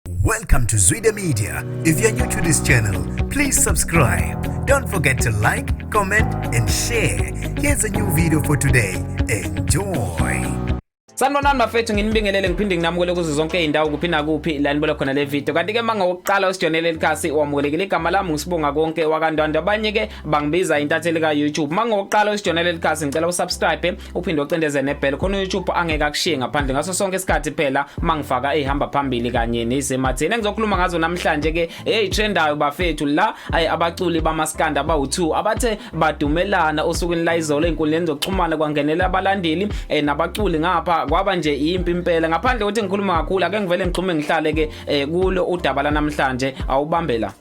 Welcome to Zwide Media. If you're new to this channel, please subscribe. Don't forget to like, comment and share. Here's a new video for today. Enjoy. Sanibonani bafethu nginibingelele ngiphinde nginamukele kuzo zonke izindawo kuphi nakuphi la nibola khona le video kanti ke manga wokuqala osijonele likhasi wamukelekile igama lami ngisibonga konke wakandwandwa abanye ke bangibiza intatheli ka YouTube manga wokuqala osijonele likhasi ngicela usubscribe uphinde ocindeze nebhele khona uYouTube angeke akushiye ngaphandle ngaso sonke isikhathi phela mangifaka ehamba phambili kanye nezematheni engizokhuluma ngazo namhlanje ke hey trendayo bafethu la ay abaculi bamaskanda abawu2 abathe badumelana osukwini la izolo enkundleni zokuxhumana kwangenela abalandeli eh, nabaculi ngapha kwaba nje impi impela ngaphandle ukuthi ngikhuluma kakhulu ake ngivele ngixhume ngihlale ke eh, kulo udaba la namhlanje awubambela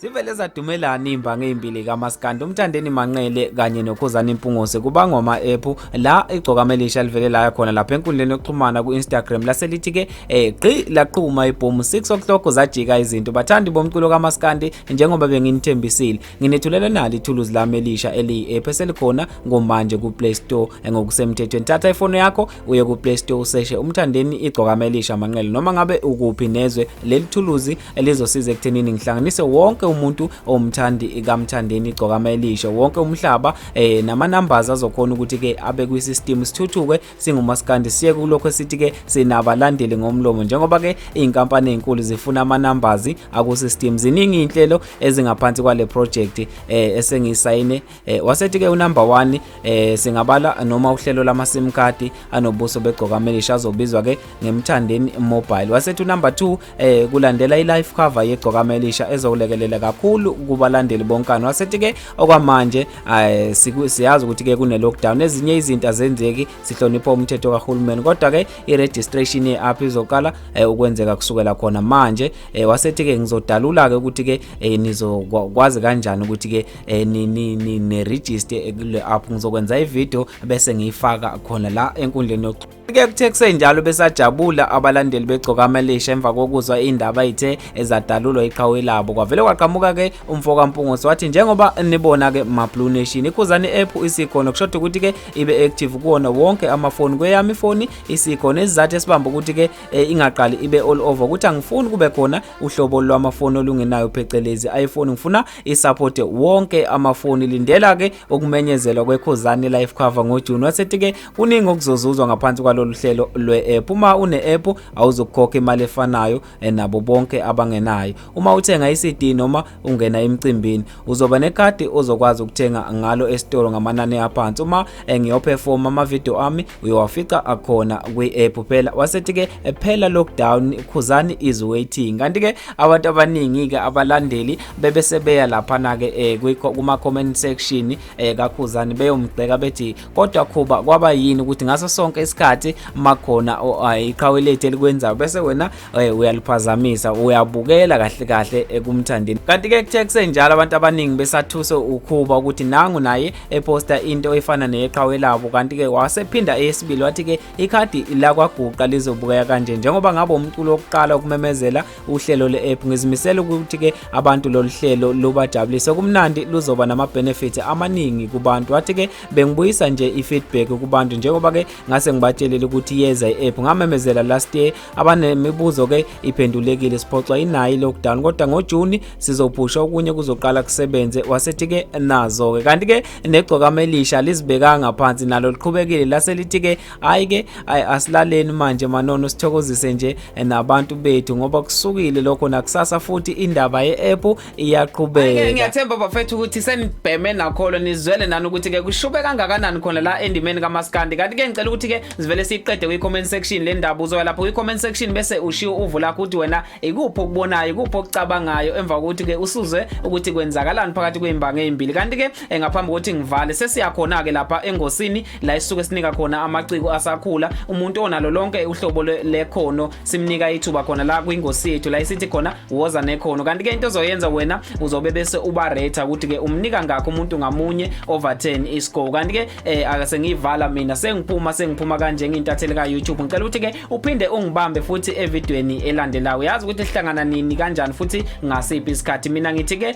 zivele zadumelana iimbangi ezimbili kamaskandi umthandeni manqele kanye nokhuzani mpungose kubangwa ama-ephu la igcokama elisha livele laya khona lapha enkundleni yokuxhumana ku-instagram laselithi ke eh, gqi laqhuma ibhomu 6 o'clock zajika izinto bathandi bomculo kamaskandi njengoba benginithembisile nginethulele nalo ithuluzi lami elisha eliyi-ephu eselikhona ngomanje kuplay store eh, ngokusemthethweni thatha ifoni yakho uye kuplay store useshe umthandeni igcokama elisha manqele noma ngabe ukuphi nezwe leli thuluzi elizosiza ekuthenini ngihlanganise wonke umuntu owumthandi kamthandeni igcokama elisho wonke umhlaba eh nama numbers azokhona ukuthi ke abe kwi system sithuthuke singumaskandi siye kulokho esithi ke sinabalandeli ngomlomo njengoba ke izinkampani ezinkulu zifuna ama numbers aku system ziningi inhlelo ezingaphansi kwale project eh esengisayine Eh wasethi ke unumber 1 eh singabala noma uhlelo lama SIM card anobuso begcoka melisha azobizwa ke ngemthandeni mobile. Wasethi unumber 2 eh kulandela ilife cover yegcoka melisha ezokulekelela kakhulu kubalandeli bonkani. Wasethi ke okwamanje eh siyazi ukuthi ke kune lockdown ezinye izinto azenzeki sihlonipha umthetho kahulumeni kodwa ke i registration ye app izoqala eh, ukwenzeka kusukela khona manje eh wasethi ke ngizodalula ke ukuthi ke eh, nizokwazi kanjani ukuthi ke eh, ni ni ni ne register ekule app ngizokwenza ivideo bese ngiyifaka khona la enkundleni yokuxhumana ke kuthe kusenjalo besajabula abalandeli begcoka amelisha emva kokuzwa indaba ithe ezadalulwa iqhawe labo kwavele kwaqhamuka ke umfoka Mpungusi wathi njengoba nibona ke ma Blue Nation ikhuzani app isikhona kushoda ukuthi ke ibe active kuwona wonke amafoni kweyami ifoni isikhona isizathu esibamba ukuthi ke eh, ingaqali ibe all over ukuthi angifuni kube khona uhlobo lwamafoni olungenayo phecelezi iPhone ngifuna isupporte wonke amafoni lindela ke ukumenyezelwa kwekhuzane life cover ngojuni wasethi ke kuningi okuzozuzwa ngaphansi kwalolu hlelo lwe-app uma une-app awuzokukhokha imali efanayo eh, nabo bonke abangenayo uma uthenga i-cd noma ungena emcimbini uzoba nekhadi ozokwazi ukuthenga ngalo esitolo ngamanani aphansi uma eh, ngiyoperform ama video ami uyowafica akhona kwi app kuphela wasethi ke eh, phela lockdown khuzani is waiting kanti ke abantu abaningi ke abalandeli bebe sebeya lapha na ke eh, kuma comment section eh, kakhuzani beyomgceka bethi kodwa khuba kwaba yini ukuthi ngaso sonke isikhathi makhona iqhawe lethu elikwenzayo bese wena Hey uyaliphazamisa uyabukela kahle kahle ekumthandeni kanti ke kuthe kusenjalo abantu abaningi besathuse ukhuba ukuthi nangu naye eposta into efana neyeqhawe labo kanti ke wasephinda eyesibili wathi ke ikhadi lakwaguqa lizobukeka kanje njengoba ngabe umculo wokuqala ukumemezela uhlelo le-app ngizimisela ukuthi ke abantu lolu hlelo lubajabulise kumnandi luzoba nama-benefit amaningi kubantu wathi ke bengibuyisa nje i-feedback kubantu njengoba ke ngase ngibatshelile ukuthi yeza i-app ngamemezela last year abanemibuzo ke iphendulekile siphoxwa inayo i-lockdown kodwa ngojuni sizobhusha okunye kuzoqala kusebenze wasethi ke nazo ke kanti ke negcokama elisha lizibekanga phansi nalo liqhubekile laselithi ke hayi ke asilaleni manje manono sithokozise nje nabantu bethu ngoba kusukile lokho nakusasa futhi indaba ye-app iyaqhubeka ngiyathemba bafethu ukuthi senibheme nakholo nizwele nani ukuthi ke kushube kangakanani khona la endimeni kamaskandi kanti ke ngicela ukuthi ke sivele siyiqede kwi-comment section le ndaba uzoya lapho kwi-comment section bese ushiwo uvu lakho ukuthi wena ikuphi okubonayo ikuphi okucabangayo emva kokuthi ke usuzwe ukuthi kwenzakalani phakathi kwey'mbanga ey'mbili kanti ke eh, ngaphambi kokuthi ngivale sesiyakhona-ke lapha engosini la esisuke sinika khona amaciko asakhula umuntu onalo lonke uhlobo lekhono simnika ithuba khona la kwingosi yethu la isithi khona woza nekhono kanti ke into ozoyenza wena uzobe bese uba rater ukuthi ke umnika ngakho umuntu ngamunye over 10 iscore kanti ke eh, akasengiyivala mina sengiphuma sengiphuma kanje ngintatheli ka YouTube ngicela ukuthi ke uphinde ungibambe futhi evidweni elandelayo yazi ukuthi sihlangana nini kanjani futhi ngasiphi isikhathi mina ngithi ke